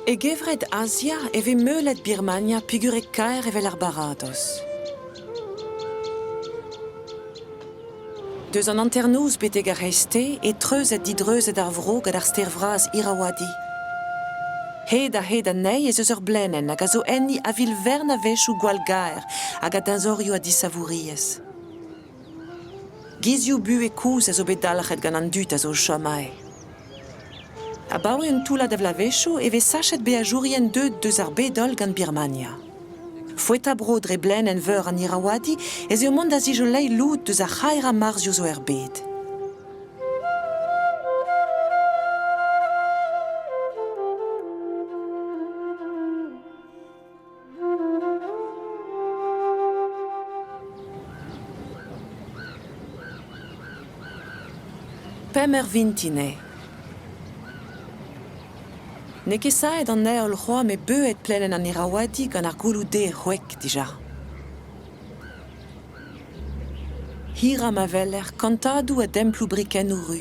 E gevred Azia e vez meulet Birmania pigurek-kaer evel ar baradoz. Deus an hanternoz betek ar c'hreizte eo treuzet-didreuzet ar vro gant ar stêr vras Irrawaddy. Hed-ha-hed anezhi ez eus ur blenenn hag a zo enni a-vil-vern a-wechoù gwall-gaer hag a deñzorioù a disavouriezh. Gizioù-buhez kozh a zo bet dalc'het gant an dud a zo o chom aze. Abaoe un toullad a vloavezhioù e vez sachet beajourien deuet deus ar bed-holl gant Birmania. Foetañ-bro dre blaenenn veur an Irrawaddy ez eo mont da zijoleiñ lod deus ar c'haerañ marzioù zo er bed. Pemp eur vintin eo. N'eo ket saet an heol c'hoazh met beuet plelenn an Irrawaddy gant ar gouloù derr c'hwek dija. Hirañ ma weler kantadoù a demploù brikennoù ru.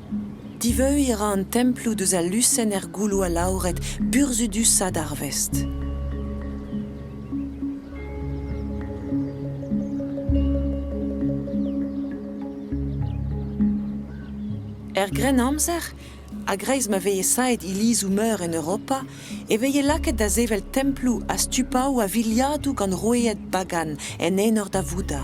Diveuiñ a ra an temploù deus al lusenn er gouloù alaouret burzhudusañ d'ar vest. Er Grennamzer, a-greiz ma veze saet ilizoù-meur en Europa, e veze lakaet da sevel temploù ha stupaoù a viliadoù gant roueed bagan en enor da Vouddha.